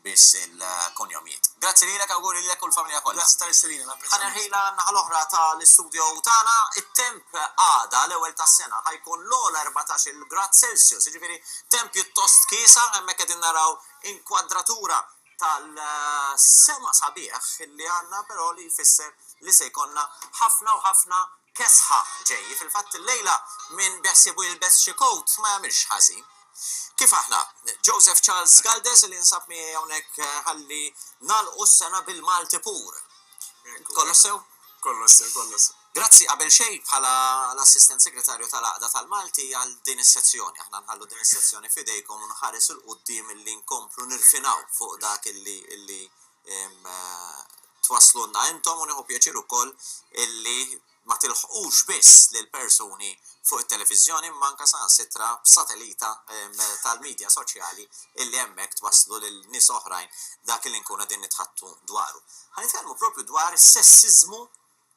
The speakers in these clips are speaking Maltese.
biss il-kunjomijiet. Grazzi lilek, awguri lilek u l-familja kollha. Grazzi tal-istedina, napprezza. Ħa nerħi l-naħa l-oħra ta' l-istudio tagħna. It-temp għada, l-ewwel tas-sena, ħa jkun l-ogħla 14-il grad Celsius, jiġifieri temp pjuttost kiesa, hemmhekk qegħdin naraw inkwadratura tal-sema sabiħ li għandna però li jfisser li se jkollna ħafna u ħafna kesħa ġej. Fil-fatt illejla min beħsiebu jilbes xi coat ma jagħmilx ħażin. Kif aħna? Joseph Charles Galdes li jinsab miegħi hawnhekk eh, ħalli nagħlqu s-sena bil-Malti pur. Kollox sew? Kollox sew, kollox. Grazzi qabel xejn bħala l-Assistent Segretarju tal-Aqda tal-Malti għal din is-sezzjoni. Aħna nħallu din is-sezzjoni fidejkom u nħares il-qudiem li nkomplu nirfinaw fuq dak illi twasslulna intom u nieħu pjaċir ukoll illi ma tilħqux biss lil persuni fuq it-televiżjoni imma anke saħansitra b'satelita tal-midja soċjali illi hemmhekk twasslu lil nies oħrajn dak li nkunu qegħdin nitħaddtu dwaru. Ħa nitkellmu propju dwar is-sessiżmu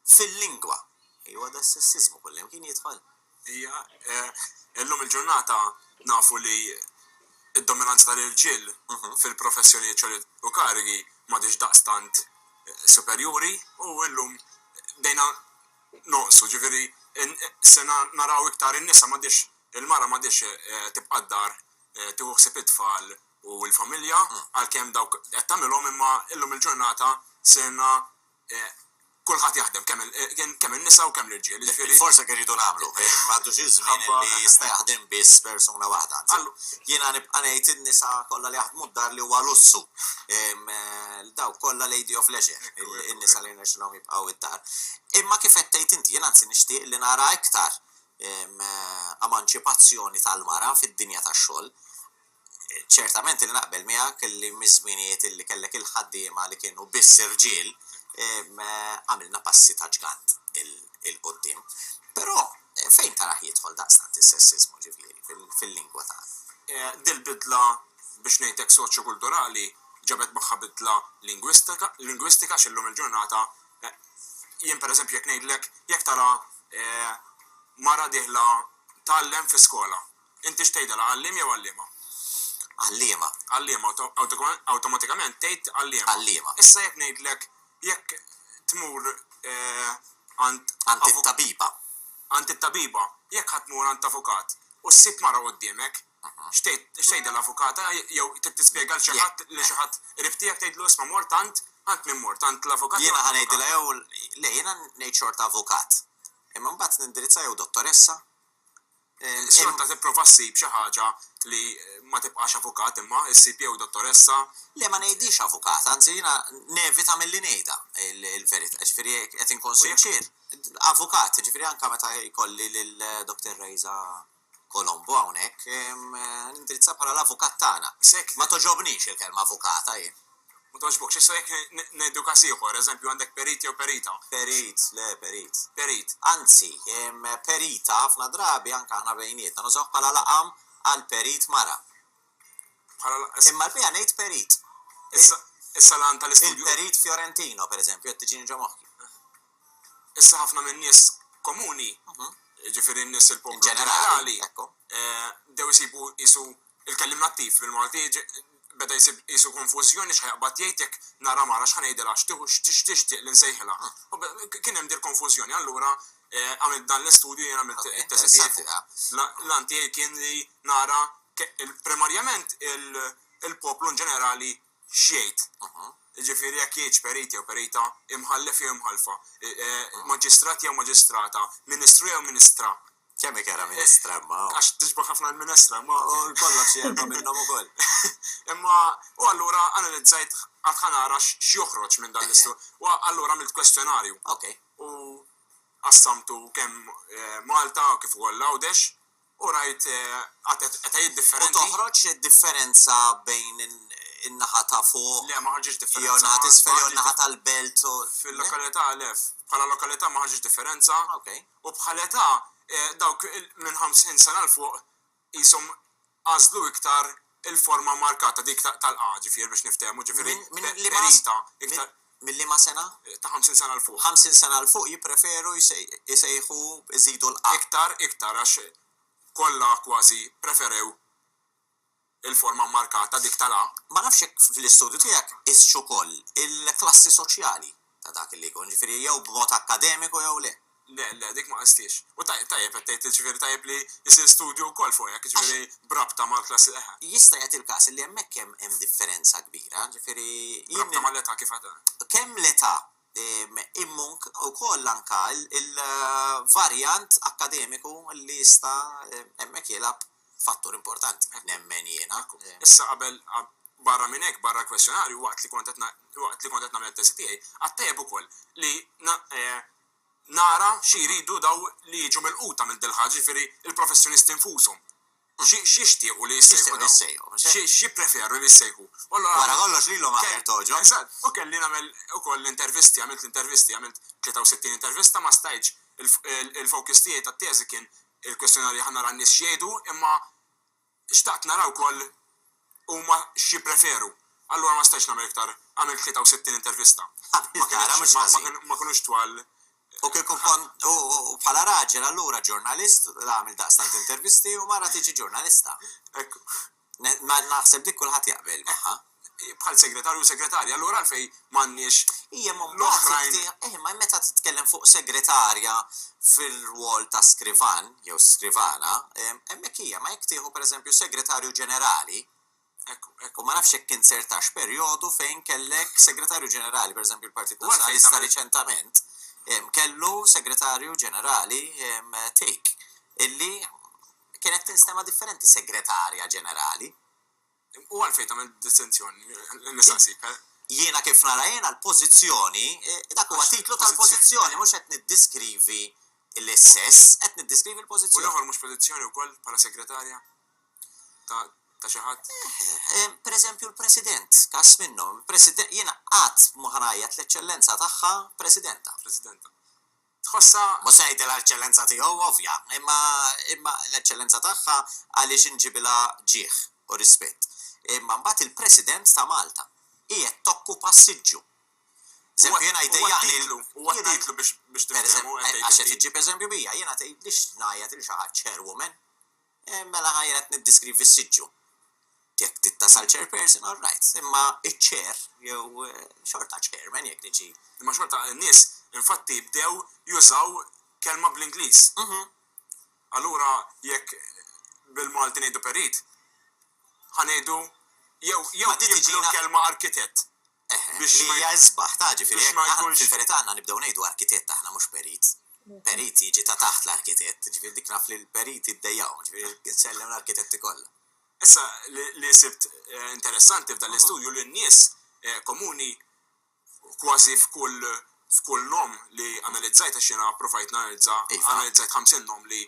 fil-lingwa. Ejwa da s-sessiżmu kullimkien jidħol. Ija, illum il-ġurnata nafu li d-dominanza tal-irġiel fil-professjonijiet u karigi m'għadhiex daqstant superjuri u illum bdejna nonqsu, ġifieri se naraw iktar in-nisa m'għadhiex, il-mara m'għadhiex tibqa' d-dar tieħu ħsieb it-tfal u l-familja għalkemm dawk qed tagħmilhom imma illum il-ġurnata sirna, kulħadd jaħdem, kemm in-nisa u kemm l-irġiel, jiġifieri. Il-forza kif irridu nagħmlu, m'għaddux iż-żmien li jista' jaħdem biss persuna waħda, anzi, jiena nibqa' ngħid in-nisa kollha li jaħdmu d-dar li huwa lussu, dawk kollha lady of leisure, in-nisa li rnexxilhom jibqgħu d-dar. Imma kif qed tgħid inti, jien anzi nixtieq li nara iktar emanċipazzjoni tal-mara fid-dinja tax-xogħol, Ċertament li naqbel miegħek li miż-żminijiet li kellek il-ħaddiema li kienu biss irġiel, għamilna passi ta' ġgant 'il quddiem. Però fejn tarah jidħol daqstant is-sessiżmu, ġifieri, fil-lingwa tagħna? Dil-bidla, biex ngħidlek soċjokulturali, ġabet magħha bidla lingwistika għax illum il-ġurnata jien pereżempju jekk ngħidlek jekk tara mara dieħla tgħallem fi skola, Intix tgħidilha għalliem jew għalliema? Għalliema. Għalliema, u awtomatikament tgħid għalliema. Għalliema. Issa jekk ngħidlek jekk tmur għand. Għand it-tabiba. Għand it-tabiba. Jekk ħa tmur għand avukat u ssib mara quddiemek, x'tgħidha l-avukata jew trid tispjega lil xi ħadd li xi ħadd qrib tiegħek tgħidlu isma' mort għand għand min mort għand l-avukat. Jiena ħa ngħidilha jew le jiena ngħid xorta avukat. Imma mbagħad nindirizza jew dottoressa Xorta tipprova ssib xi ħaġa li ma tibqax avukat imma ssib jew dottoressa. Le ma ngħidhiex avukat, anzi jiena nevita milli ngħidha l-verità, jiġifieri jekk qed inkun sinċier, avukat, jiġifieri anke meta jkolli lil Doctor Raiza Colombo hawnhekk, nindirizzha bħala l-avukat tagħna. Ma togħġobnix il-kelma avukata jien. Ma togħġbokx. Issa jekk ngħidu każ ieħor, eżempju, għandek perit jew perita. Perit, le, perit. Perit. Anzi, perita ħafna drabi anke aħna bejnietna nużawh bħala laqam għal perit mara. Bħala laqam. Imma l-biha ngħid perit. Issa, issa l-għan tal-istudju. Il-perit Fiorentino, pereżempju, qed tiġini ġo moħħi. Issa ħafna min-nies komuni, jiġifieri n-nies il-poplu ġenerali, bdew isibu qisu Il-kelliem nattiv bil-Malti beda jsib qisu konfużjoni x'ħa jaqbad jgħid jekk nara mara x'ħa ngħidilha x'tixtieq li nsejħilha. Kien hemm dik konfużjoni allura għamilt dan l-istudju jiena għamilt it-teżi tiegħi fuqha. L-għan tiegħi kien li nara primarjament il-poplu inġenerali x'jgħid. Jiġifieri jekk jgħidx perit jew perita, imħallef jew imħallfa, maġistrat jew maġistrata, ministru jew ministra. Kemm ikera minestra eh, imma. Għax tiġbu ħafna l-minestra, imma kollha xi erba' minnhom ukoll. Imma u allura analizzajt qatt ħanara x'joħroġ minn dan l-istu. Eh. U allura għamilt kwestjonarju. Ok. U qassamtu kemm eh, Malta kif ukoll Għawdex u rajt qed differenza. U toħroġ differenza bejn in-naħa ta' fuq. Le, ma ħarġiex differenza. Jew naħa tisfel jew naħa tal-belt. Fil-lokalità lef. Bħala lokalità ma ħarġiex differenza. Ok. U bħal età, dawk minn 50 sena 'l fuq qishom għażlu iktar il-forma markata, dik tal-A, ġifieri biex niftehmu, ġifieri ferita iktar. Minn liema sena? Ta' 50 sena 'l fuq. 50 sena 'l fuq jippreferu jsejħu jżidu l-A. Iktar, iktar, għax kollha kważi ppreferew. il-forma mmarkata, dik tal a. Ma nafx jekk fl-istudju tiegħek qistx ukoll il-klassi soċjali ta' dak li jkun, jiġifieri jew b'mod akkademiku jew le. Le, le, dik ma qisthiex. U tajjeb qed tgħid, jiġifieri tajjeb li jsir studju wkoll fuq hekk, jiġifieri b'rabta mal-klassi, eħe. Jista' jagħti l-każ li hemmhekk hemm differenza kbira, jiġifieri jien. B'rabta mal-età kif għad. Kemm l-età Imma wkoll anke il-varjant akkademiku li jista' hemmhekk jilgħab fattur importanti, nemmen jiena. Issa qabel, barra minn hekk, barra l-kwestjonarju, waqt li kont qed waqt li kont qed nagħmel it-teżi tiegħi, għadt tajjeb ukoll li nara xi jridu dawn li jiġu milquta minn dil-ħaġa, jiġifieri l-professjonisti nfushom. U x'jixtiequ li jissejħu? X'jippreferu li jissejħu? Wara kollox lilhom aħjar togħġob. Eżatt. U kelli nagħmel ukoll l-intervisti, għamilt l-intervisti, għamilt 63 intervista, ma stajtx, il-focus tiegħi tat-teżi kien il-kwestjonarju ħa nara n-nies x'jgħidu, imma xtaqt nara wkoll huma x'jippreferu. Allura ma stajtx nagħmel iktar, għamilt 63 intervista. Ma kinux twal. U kieku kont, u bħala raġel allura ġurnalist għamil daqstant intervisti u mara tiġi ġurnalista. Naħseb dik kulħadd jaqbel magħha. Bħal segretarju u segretarja, allura għalfejn M'għandniex l-oħrajn. Eħe, imma meta titkellem fuq segretarja fir-rwol ta' skrivan jew skrivana, hemmhekk hija, imma jekk tieħu pereżempju segretarju ġenerali, u ma nafx jekk inzertax perjodu fejn kellek segretarju ġenerali, pereżempju l-Partit Nazzjonalista riċentament kellu segretarju ġenerali take illi kienet tinstema' differenti segretarja ġenerali. U għalfejn tagħmel distinzjoni li nistaqsik? Jiena kif nara jiena l-pożizzjoni, dak huwa titlu tal-pożizzjoni, mhux qed niddiskrivi l-sess, qed niddiskrivi l-pożizzjoni. U l-ieħor mhux pożizzjoni wkoll bħala segretarja ta' ta' xi ħadd? Pereżempju l-President, każ minnhom, jiena qatt ma ħa ngħajjat l-Eċċellenza tagħha Presidenta. Presidenta. Tħossha, mhux se ngħidilha l-Eċċellenza tiegħu, ovvja, imma, imma l-Eċċellenza tagħha għaliex inġibilha ġieħ u rispett. Imma mbagħad il-President ta' Malta qiegħed tokkupa s-siġġu. Eżempju, jiena jdejjaqni l. U għad ngħidlu biex, biex tifhmu, qed tgħid inti. Għax qed iġġib eżempju bija, jiena tgħidlix ngħajjat lil xi ħadd chairwoman. Mela ha jien qed niddiskrivi s-siġġu. Jekk tittasal chairperson, all right, imma iċ-chair jew xorta chairman jekk niġi. Imma xorta n-nies infatti bdew jużaw kelma bl-Ingliż. Allura jekk bil-Malti ngħidu perit, ha ngħidu jew jew jibdlu l-kelma arkitett. Biex ma jkunx. Fil-verità għandna nibdew ngħidu arkitett aħna mhux perit. Perit jiġi ta' taħt l-arkitett, jiġifieri dik naf li l-periti ddejjaqhom, jiġifieri nsellem l-arkitetti kollha. Issa, li sibt interessanti f'dan l-istudju li n-nies komuni kważi f'kull f'kull nom li analizzajt għax jiena ppruvajt nanalizza analizzajt 50 nom li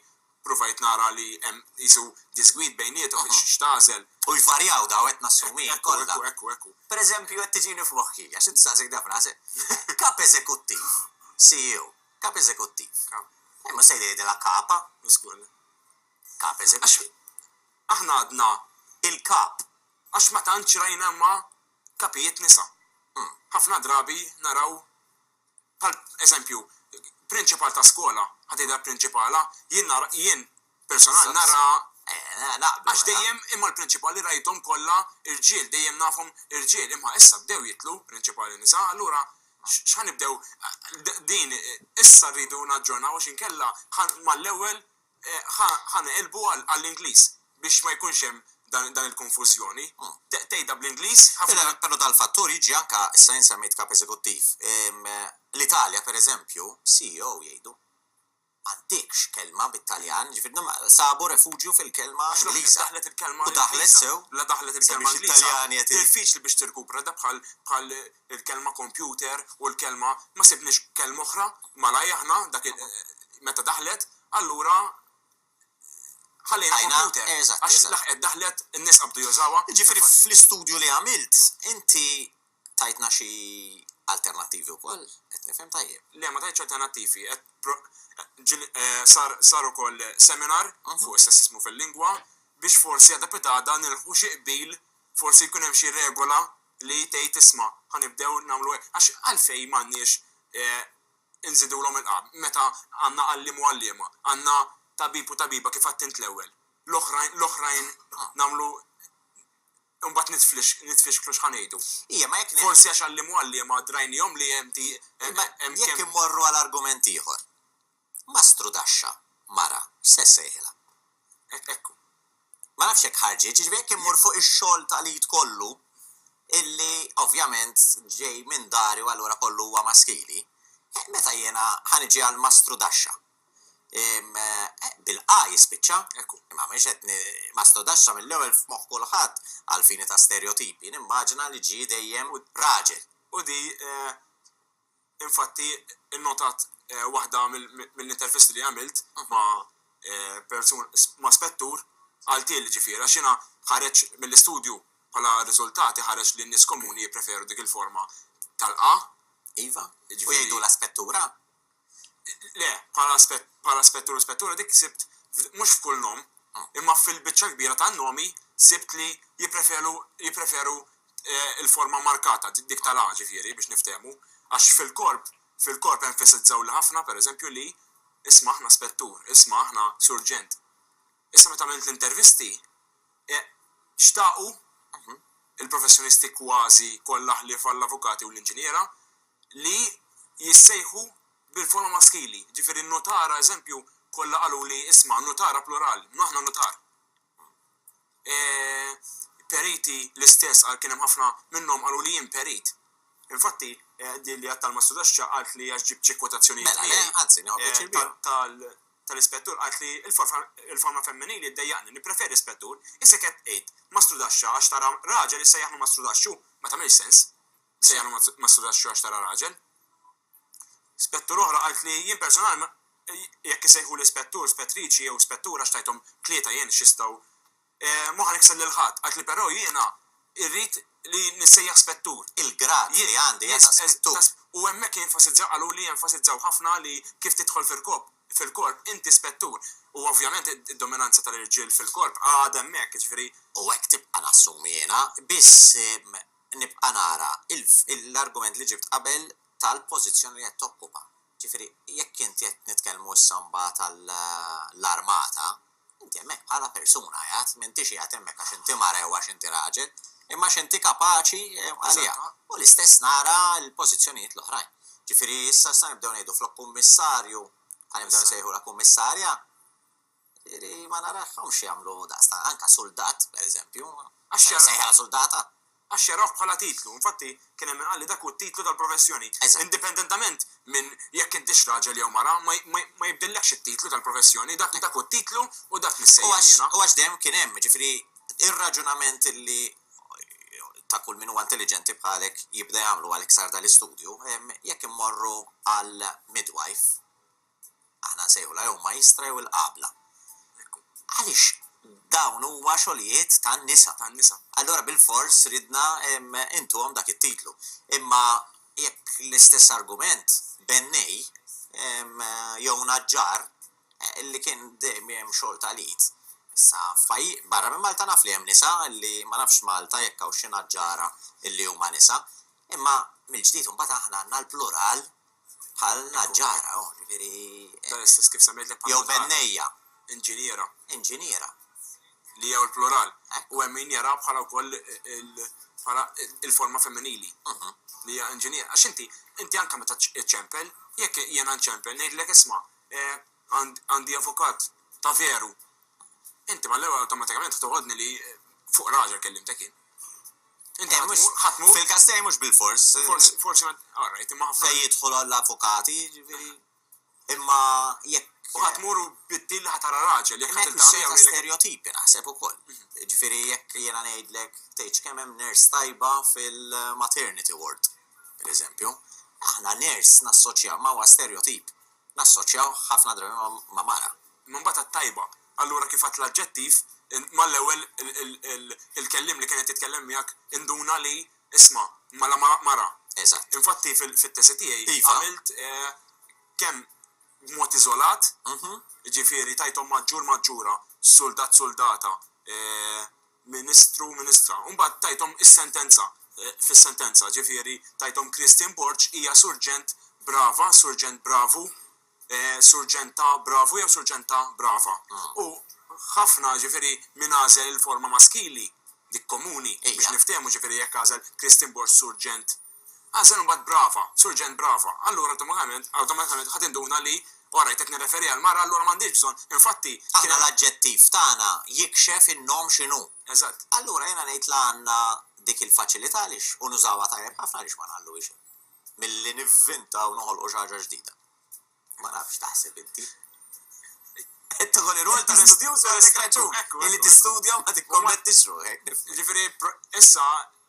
Pruvajt nara li hemm qisu diżgwid bejniethom biex x'tagħżel. U jvarjaw dawn qed nassumih kollha. Ekku, ekku, ekku. Per eżempju qed tiġini f'moħħi, għax int saqsejt dak f'rasek, Kap Eżekuttiv, CEO, Kap Eżekuttiv. Kap. Imma se jgħidilha Kapa. Żgur le. Kap Eżekuttiv. Għax aħna għadna il-Kap. Għax ma tantx rajna ma' Kapijiet nisa. Ħafna drabi naraw. Bħal, eżempju, prinċipal ta' skola, ħa tgħidha prinċipala, jien nara, jien personal nara, għax dejjem imma l-prinċipali rajthom kollha rġiel, dejjem nafhom irġiel, imma issa bdew jitlu prinċipali nisa, allura x'ħa nibdew, din issa rridu naġġornaw għax inkella ħa mal-ewwel Ħa neqilbu għall-Ingliż biex ma jkunx hemm dan il-konfużjoni. Tgħidha bl-Ingliż ħafna. Però dal-fattur jiġi anke, issa jien semmejt kap eżekuttiv. L-Italja, pereżempju, CEO jgħidu, m'għandekx kelma bit-Taljan, jiġifieri sabu refuġju fil-kelma Ingliża. U daħlet sew. La daħlet il-kelma Ingliża. Diffiċli biex tirkupra, da bħal il-kelma kompjuter u l-kelma ma sibniex kelma oħra malajr aħna dak il meta daħlet allura ħallejna Ħajna, kompjuter eżatt, għax eżatt. laħqet daħlet in-nies qabdu jużawha. Jiġifieri fl-istudju li għamilt inti tajtna xi alternattivi wkoll, qed nifhem tajjeb? Le ma tajtx alternattivi, qed pro ġil sar sar ukoll seminar fuq is-sessiżmu fil-lingwa biex forsi għada pitada nilħqu xi qbil Forsi jkun hemm xi regola li tgħid isma' ħa nibdew nagħmlu hekk. Għax għalfejn m'għandniex inżidulhom il-qagħad meta għandna għalliem u għalliema, għandna tabib u tabiba kif għidt int l-ewwel. L-oħrajn l-oħrajn nagħmlu imbagħad nitflix nitfixklu x'ħa ngħidu. Ija, ma jekk Forsi għax għalliem u għalliema drajnihom li hemm ti hemm hemm kemm Jekk immorru għal argument ieħor. Ma strudaxxa, mara, x'se ssejħilha? Hekk, hekk hu. Ma nafx jekk ħarġitx, jiġifieri jekk immur fuq ix-xogħol ta' l-id kollu, illi ovvjament ġej minn dari u allura kollu huwa maskili, eh, meta jiena ħa niġi għal ma strudaxxa? Ehm, eh, bil-'a' jispiċċa. Hekk hu. Imma m'iniex qed ni, ma strudaxxa mill-ewwel f'moħħ kulħadd, għall-fini ta' sterjotipi, nimmaġina li ġie dejjem raġel. U di, eh, Infatti, innotat waħda mill-intervisti li għamilt ma' persun, ma' spettur, qalthieli ġifieri, għax jiena ħareġ mill-istudju bħala riżultati ħareġ li n-nies komuni jippreferu dik il-forma tal-A. Iva, u jgħidulha spettura? Le, bħala spettur u spettura dik sibt mhux f'kull nom. imma fil-biċċa l-kbira tan-nomi sibt li jippreferu l-forma markata, dik tal-a, ġifieri, biex niftehmu, għax fil-korp, fil-korp enfasizzawli ħafna, pereżempju, li, Isma' aħna spettur, isma' aħna surġent. Issa meta għamilt l-intervisti, xtaqu l-professjonisti kważi kollha ħlief għall-avukati u l-inġiniera li jissejħu Bil-forma maskili, jiġifieri nutara, eżempju, kollha qaluli, isma', nutara plural, aħna nutar. E, periti l-istess qal kien hemm ħafna minnhom qaluli jien perit. Infatti, din li għedt tal-Mastru Taxxa qalt li għax ġibt xi kwotazzjonijiet miegħi. Mela le, anzi, nieħu pjaċir bihom. Tal-Ispettur qalt li l-forma femminili ddejjaqni, nippreferi Ispettur, issa qed tgħid Mastru Taxxa għax tara raġel issejjaħlu Mastru Taxxu, ma tagħmilx sens, issejjaħlu Mastru Taxxu għax tara raġel. Spettur oħra qalt li jien personalm jekk isejħuli spettur, spettriċi jew spettur għax tajthom tlieta jien x'jistgħu ma ħa nikser lil ħadd. Qalt li però jiena irrid li nissejjaħ spettur. Il-grad li għandi jien ta' spettur. U hemmhekk jenfasizzaw, qaluli jenfasizzaw ħafna li kif tidħol fil-kop, fil-korp, inti spettur. U ovvjament id-dominanza tal-irġiel fil-korp għadha hemmhekk, jiġifieri. U hekk tibqa' nassumi jiena, biss nibqa' nara l-argument li ġibt qabel tal-pożizzjoni li qed tokkupa. Ġifieri, jekk inti qed nitkellmu issa mbagħad għall-armata, inti hemmhekk bħala persuna qiegħed, m'intix qiegħed hemmhekk għax inti mara jew għax inti raġel, imma għax inti kapaċi għaliha. U l-istess nara l-pożizzjonijiet l-oħrajn. Ġifieri, issa se nibdew ngħidu flok kummissarju, ħa nibdew nsejħulha kummissarja. Jiġifieri ma narahomx jagħmlu daqstant, anke suldat, pereżempju, għax se jsejħilha suldata? Għax xergħuh bħala titlu. Infatti, kien hemm min qal li dak hu t-titlu tal-professjoni. Indipendentament minn jekk intix raġel jew mara, ma jibdillekx it-titlu tal-professjoni. Dak hu t-titlu u dak nissejjaħ jiena. U għax dejjem kien hemm, jiġifieri, ir-raġunament li ta' kull min huwa intelliġenti bħalek jibda jagħmlu għal iksar tal-istudju, jekk immorru għall-midwife. Aħna nsejħulha jew majstra jew il-qabla. Għaliex dawn huma xogħlijiet tan-nisa. Tan-nisa. Allura bilfors ridna intuhom dak it-titlu. Imma jekk l-istess argument, bennej jew naġġar li kien dejjem xogħol tal-id. Issa f'pajjiż barra minn Malta naf li hemm nisa li ma nafx f'Malta jekk hawn xi naġġara li huma nisa. Imma mill-ġdid imbagħad aħna għandna l-plural. Bħalna ġara, oh, ġifieri. Dan is-sens kif semmejtlek bħal. Jew bennejja. Inġiniera. Inġiniera. Li hija l-plural. U hemm min jara bħala wkoll bħala il-forma femminili. Mhm. Li hija inġiniera. Għax inti, inti anke meta ċċempel, jekk jiena nċempel ngħidlek isma' eh, għandi avukat ta' veru Inti mal-ewwel awtomatikament ħtoħodni li fuq raġel kellimtek jien. Inti eh, ħatmur. Fil-każ tiegħi mhux bil-fors. Forsi forsi ma all right, imma ħafna. Fejn jidħol għall-avukati, ġifieri. Imma jekk U ħatmur u biddil ħatara raġel, jekk ħadd ta' stereotipi naħseb ukoll. Mhm. Ġifieri jekk jiena ngħidlek tgħid kemm hemm nurse tajba fil-maternity ward, pereżempju. Aħna nurse nassoċja ma' stereotip. nassoċjaw ħafna drabi ma' mara. Imma mbagħad għat-tajba. Allura kif għad l-aġġettiv, mal-ewwel il-kelliem li kien qed jitkellem miegħek induna li isma' mela mara. Eżatt. Infatti fit-tesi tiegħi għamilt kemm b'mod iżolat, jiġifieri tajthom maġġur maġġura, suldat suldata, Ministru, Ministra. U mbagħad tajthom is-sentenza, fis-sentenza, ġifieri tajthom Christine Borg hija Surġent Brava, Surġent Bravu, Surġenta Bravu jew Surġenta Brava. U ħafna, ġifieri min għażel il-forma maskili, dik komuni, biex niftehmu, ġifieri jekk għażel Christine Borg Surġent, Agħżel imbagħad Brava, Surġent Brava. Allura awtomatikament, awtomatikament ħa tinduna li, o rajt qed nirreferi għall-mara allura m'għandix bżonn, infatti, kien hemm. Aħna l-aġġettiv tagħna jikxef in-nom x'inhu. Eżatt. Allura jiena ngħid li għandna dik il-faċilità għaliex, u nużawha tajjeb ħafna għaliex ma ngħalluhiex hekk milli nivvintaw, noħolqu xi ħaġa ġdida. Ma nafx x'taħseb inti. Qed toħol ir-rwol ta' studjuż u għandek raġun. Illi tistudja u ma tikkommettix ruħek. Jiġifieri issa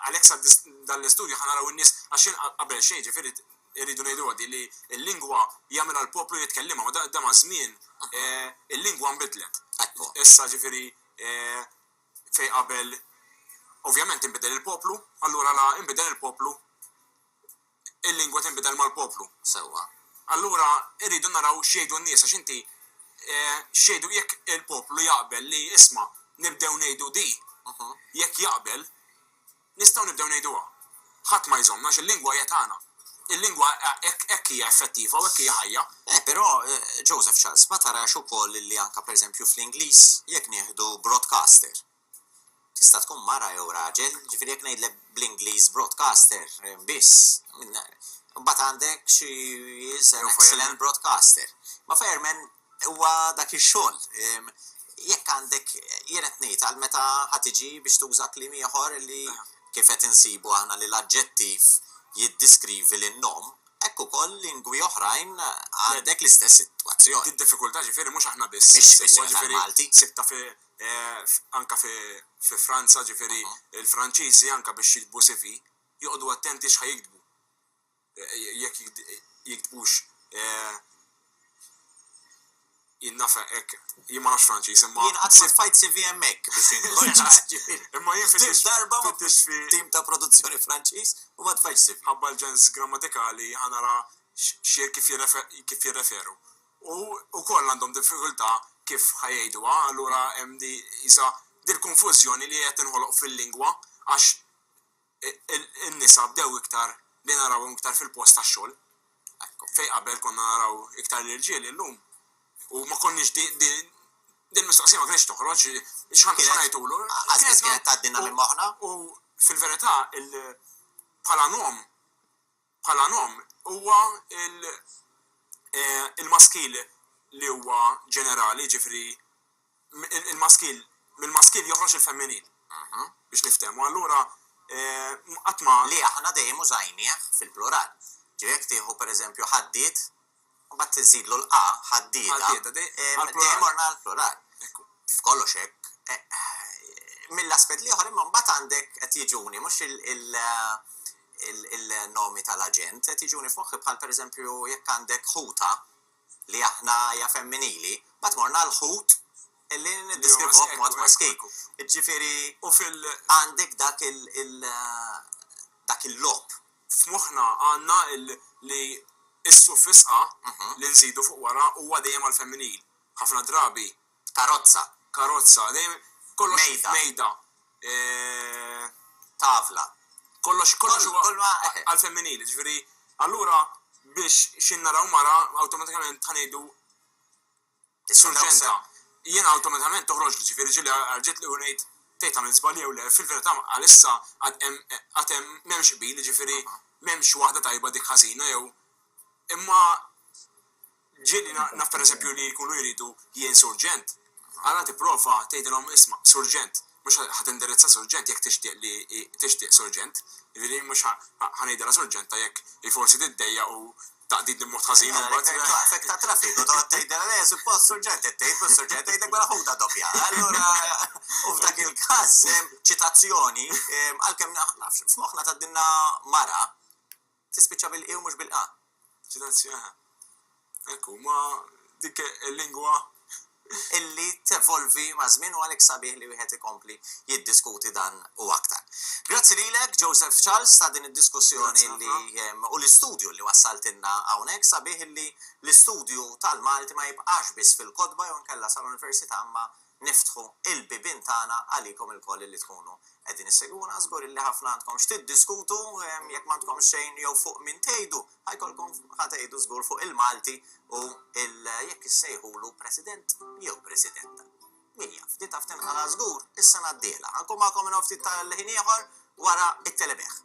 għalhekk sar dan l-istudju ħa naraw in-nies għax qabel xejn jiġifieri rridu ngħiduha din li l-lingwa jagħmilha l-poplu jitkellimha ma da maż-żmien il-lingwa nbidlet. Issa jiġifieri fejn qabel ovvjament inbidel il-poplu allura la inbidel il-poplu Il-lingwa tinbidel mal-poplu. Sewwa. Allura rridu naraw x'jgħidu n-nies għax inti x'jgħidu jekk il-poplu jaqbel li isma' nibdew ngħidu di, jekk jaqbel, nistgħu nibdew ngħiduha. Ħadd ma jżommna għax il-lingwa hija tagħna. Il-lingwa hekk hija effettiva u hekk hija ħajja. Eh, però, Joseph Charles, ma tarax ukoll li anke pereżempju fl-Ingliż, jekk nieħdu broadcaster, Tista' tkun mara jew raġel, ġifieri jekk ngħidlek bl-Ingliż broadcaster biss, imbagħad għandek she is an excellent broadcaster. Ma' fireman huwa dak ix-xogħol. Jekk għandek, jien qed ngħid għal meta ħa tiġi biex tuża kliem ieħor li kif qed insibu aħna li l-aġġettiv jiddiskrivi lin-nom, hekk ukoll lingwi oħrajn għandek l-istess sitwazzjoni. Id-diffikultà ġifieri mhux aħna biss insibuha, ġifieri sibtha fi anke fi Franza, ġifieri l-Franċiżi anke biex jiktbu CV joqogħdu attenti x'ħa jiktbu, jekk jiktbux jien naf hekk, jien ma nafx Franċiż imma. Jien qatt ma tfajt CV hemmhekk biex inkun ċar. Imma jien fittixt. Darba ma fittixtx fi tim ta' produzzjoni Franċiż u ma tfajtx CV. Minħabba l-ġens grammatikali ħa nara kif jirreferu. u wkoll għandhom diffikultà kif ħa jgħiduha, allura hemm di qisha dil-konfużjoni li qed tinħoloq fil-lingwa għax in-nisa bdew iktar li narawhom iktar fil-post tax-xogħol. Fejn qabel konna naraw iktar l-irġiel illum u ma konniex din mistoqsija ma kienx toħroġ x'ħan ngħidulu. Għażiż kienet tgħaddilna minn moħħna. U fil-verità bħala nom Bħala nom huwa l-maskil li huwa ġenerali, jiġifieri il-maskil, mill-maskil joħroġ il-femminil, biex niftehmu. Allura qatt ma. Li aħna dejjem użajnieh fil-plural. Ġifieri jekk tieħu pereżempju ħaddiet, Mbagħad inżidlu l-qa ħaddieda, dejjem morna għall-plural. F'kollox hekk. Mill-aspett l-ieħor imma mbagħad għandek, qed jiġuni, mhux il-nomi tal-aġent, qed jiġuni f'moħħi bħal pereżempju jekk għandek ħuta li aħna hija femminili, mbagħad morna għall-ħut li niddeskrivuh b'mod maskil. Jiġifieri għandek dak il-logħob F'moħħna għandna li s-suffis a li nżidu fuq wara huwa dejjem għall-femminil. Ħafna drabi. Karozza. Karozza. Dejjem kollox. Mejda. Mejda. Tavla. Kollox kollox huwa għall-femminil. Jiġifieri allura biex xi naraw mara awtomatikament ħa ngħidu Is-surġenta, jiena awtomatikament toħroġli, ġifieri ġieli għarġitli u ngħid, tgħid għamilt żball jew le, fil-verità għalissa għad hemm għad hemm m'hemmx qbil, jiġifieri m'hemmx waħda tajba dik ħażina jew imma ġieli naf pereżempju li jkunu jridu jien surġent, allura tipprova tgħidilhom isma' surġent, mhux ħa tindirizza surġent jekk tixtieq li tixtieq surġent, jiġifieri mhux ħa ngħidilha surġenta jekk hi forsi tiddejjaq u taqdidni b'mod ħażin imbagħad. Jekk twaqfek ta' traffiku toqgħod tgħidilha le suppost surġent qed tgħid mhux surġent tgħidlek mela ħudha doppja. Allura u f'dak il-każ ċitazzjoni għalkemm nafx f'moħħna tgħaddilna mara tispiċċa bil-qi u mhux bil-qa. Ċitazzjoni. Ekku, ma dik il-lingwa illi tevolvi maż-żmien u għalhekk sabiħ li wieħed ikompli jiddiskuti dan u aktar. Grazzi lilek, Joseph Charles, ta' din id-diskussjoni u l-istudju li wassaltilna hawnhekk. Sabiħ illi l-istudju tal-Malti ma jibqax biss fil-kotba jew inkella sal-università imma niftħu l-bibien tagħna għalikom ilkoll illi tkunu qegħdin issegwuna. Żgur illi ħafna għandkom x'tiddiskutu, jekk m'għandkomx xejn jew fuq min tgħidu, Ha jkollkom ha tgħidu żgur fuq il-Malti u il jekk issejħulu President jew Presidenta. Min jaf, di taf tinqala' żgur is-sena d-dieħla. Ha nkun magħkom minn hawn ftit tal-ħin ieħor wara t-telebejgħ.